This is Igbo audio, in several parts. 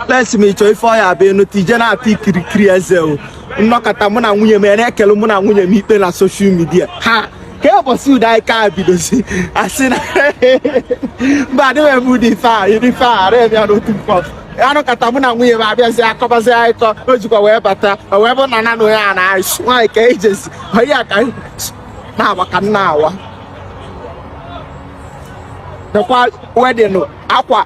Pesi m ịchọ ife ọ ya-abụ enu tije na-ata ikirikiri eze o nnọkọta mụ na nwunye m ya na-ekele mụ na nwunye m ikpe na social media ha ka ụbọchị udo anyị ka bidozi asị na mba adịghị eme ụdị ife a iri ife a ara ya n'otu mkpọ anọkọta mụ na nwunye m abịazi akọbazi anyị kọ o jikwa wee bata o wee bụ na nanụ ya na aịsụ nwaanyị ka ijezi onye ya ka na-awa ka na-awa dekwa wedding akwa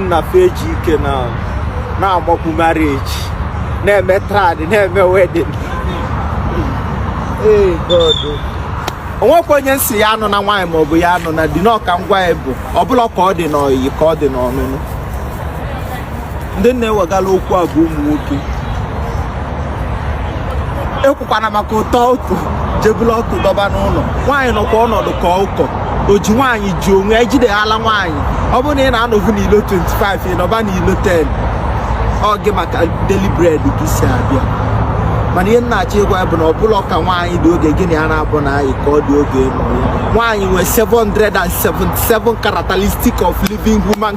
nna fa eji ike na-agbakwu marriage na-eme trad na-eme wedding ee God o nwekwa onye m sị ya anụna nwaanyị maọbụ ya anụna di n'ọka ngwa ya bụ ọ bụrọ ka ọ dị n'ọyị ka ọ dị n'ọnụnụ ndị na-ewegala okwu a bụ ụmụ nwoke ekwukwana maka ụtọ ọtụ je bulu ọkụ dọba n'ụlọ nwaanyị nọkwa ọnọdụ ka ụkọ o ji nwaanyị ji onwe ya jide ala nwaanyị ọ bụrụ na ị na-anọvu n'ilo 25 ị nọba n'ilo 10 ọ gị ma ka daily bread gị si abịa mana ihe m na-achọ ịgwa ya bụ na ọ bụrọ ka nwaanyị dị oge gị na ya naabọ na-ayị ka ọ dị oge nwaanyị nwee 777 characteristics of living human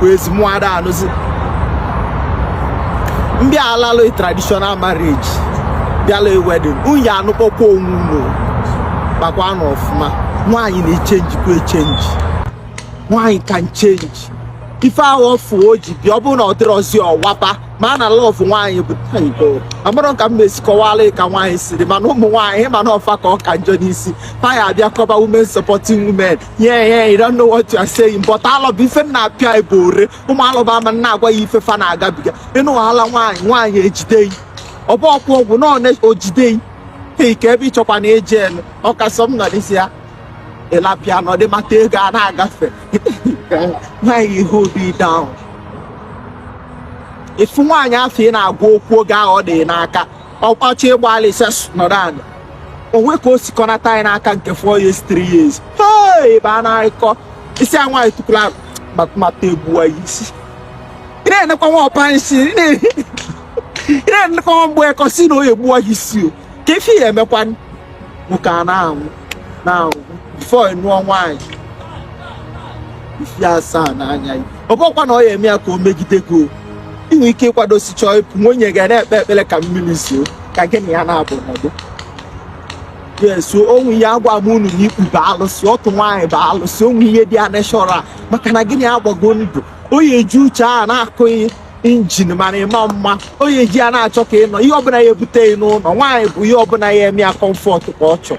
kwezi mụ ada anụzi m bịa alalụ traditional marriage bịala wedding unu ya-anụkọkwa onwe unu makwanụ ọfụma nwaanyị na-echenjikwa echenji nwaanyị can change ife ahụ ọ fụ o ji bịa ọ bụrụ na ọ dịrọzi ọ wapụ ma a na love nwaanyị bụ amarọ ka m mesi kọwara ka nwaanyị siri mana ụmụ nwaanyị ma na ọ fa ka ọ ka njọ n'isi fa ya abịa kọba women supporting women yeah yeah you don't know what you are saying but alobam ife na-apịa ebe ore ụmụ alobam ama na-agwa ya ife fa na-agabiga ịnụ wahala nwaanyị nwaanyị ejide gị ọ bụ ọkwụ ọgwụ na one o jide gị hei ka ebe ị chọkwa na eji elu ọkasọ m nọ n'isi ya ịlapịa na ọdịmata ego a na-agafe nwaanyị ihe obi down ị fụ nwaanyị afụ ị na-agwa okwu oge ahụ ọ dị n'aka ọkpọchi ịgba alịsa nọrọ ala o nwe ka o sikọnata anyị n'aka nke 4 years 3 years ebe a na-akọ isi a nwaanyị tukwula mata egbuwa ya isi ị na-enekwa nwa ọpa nsị ị na-enekwa nwa mgbeke sị na ọ ya-egbuwa ya isi oke ife ya-emekwanụ nwoke a na-anwụ na-anwụ before ị nụọ nwaanyị ife asaa n'anya ya ọ bụkwa na ọ ya eme ya ka o megide gị o i nwe ike ịkwadosi chọọ ịpụ nwunye gị ana-ekpe ekpere ka mmiri zoo ka gị na ya naabọ nọdụ yes o nwe ihe agwa m unu na ikpu bụ alụsị ọtụ nwaanyị bụ alụsị o nwe ihe dị ya neshọra maka na gị na ya agbago ndụ o yi eji uche a na-akụghị injin mara ịma mma onye ji ya na-achọ ka ị nọ ihe ọbụla ya ebute ya n'ụlọ nwaanyị bụ ihe ọbụla ya eme ya comfort ka ọ chọọ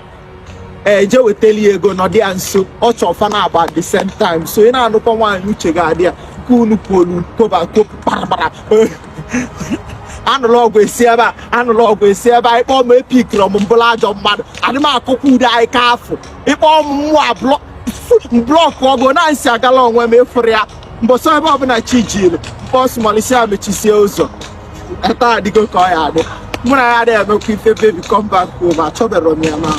ee je wetali ya ego nọdụ ya nso ọ chọọ fa naabọ at the same time so ị na-anụkwa nwaanyị uche gị adị ya ka unu pụolu koba kopu kparabara anụrụ ọgụ esi ebe a anụrụ ọgụ esi ebe a ị kpọ m epickrọ m m bụrụ ajọ mmadụ adị m akụkọ ude anyị ka afụ ị kpọ m mụ ablọ block ọgụ na nsi agala onwe m ịfụrụ ya mbọsọ ebe ọbụla chi jiri bus malisi ya mechisie ụzọ taa adịgo ka ọ ya adị mụ na ya adịghị emekwa ife baby come back o ma achọbero m ya ma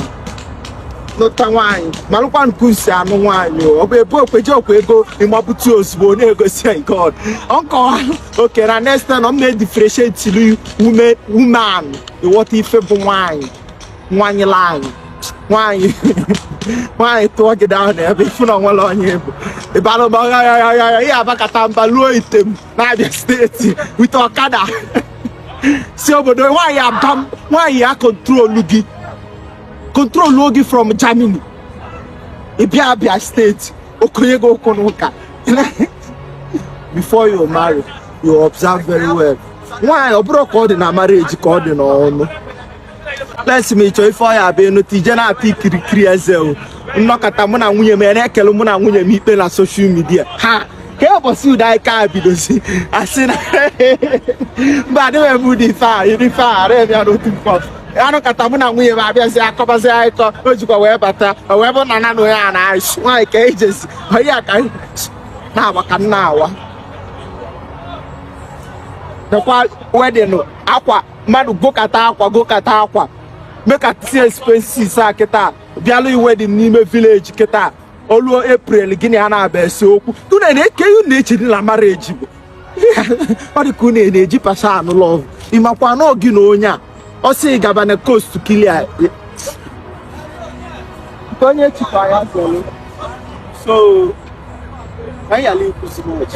nụta nwaanyị malụkwa nke ị si anụ nwaanyị ọ bụ ebe okweje okwe ego ị mapụta ozugbo na-egosi god nkọwa oke na next time m na-edifferentiatelu woman woman ị ghọta ife bụ nwaanyị nwaanyị laa anyị nwaanyị nwaanyị turn gị down na ebe ifu na onwere onye bụ ịbara ụba ghaghaghaghagha ihe abakata mba luo Item na Abia State wite ọkada si obodo nwaanyị aba m nwaanyị ya control gị control gị from Germany ị bịa Abia State ọ kọnye gị okwu na ụka before you marry you observe very well nwaanyị ọ bụrọ ka ọ dị na marriage ka ọ dị n'ọnụ lesmi chọọ ife ọ ya-abụ enu tije na-ata ikirikiri eze o nnọkọta mụ na nwunye m ya na-ekpele mụ na nwunye m ikpe na social media ha ka ụbọchị udo anyị ka bidozi asị na mba adịghị m ụdị ife a iri ife a ara ya n'otu mkpọ anụkata mụ na nwunye m abịazi akọbazi anyị kọ o jikwa wee bata o wee bụ na na onye a na-achị nwaanyị ka ejezi onye a ka anyị na-agba ka nna awa dekwa wedding akwa mmadụ gokata akwa gokata akwa mekata expenses a kịta bịalụ wedding n'ime village kịta o luo april gị na ya ana-abịa ese okwu unu na-eke unu eche na marriage bụ ọ dị ka unu na-eji pasa anụ love ịmakwa na gị na onye a ọ sị gaba na coast clear onye chịkwa ya zọrọ so anyị ala ikwu too much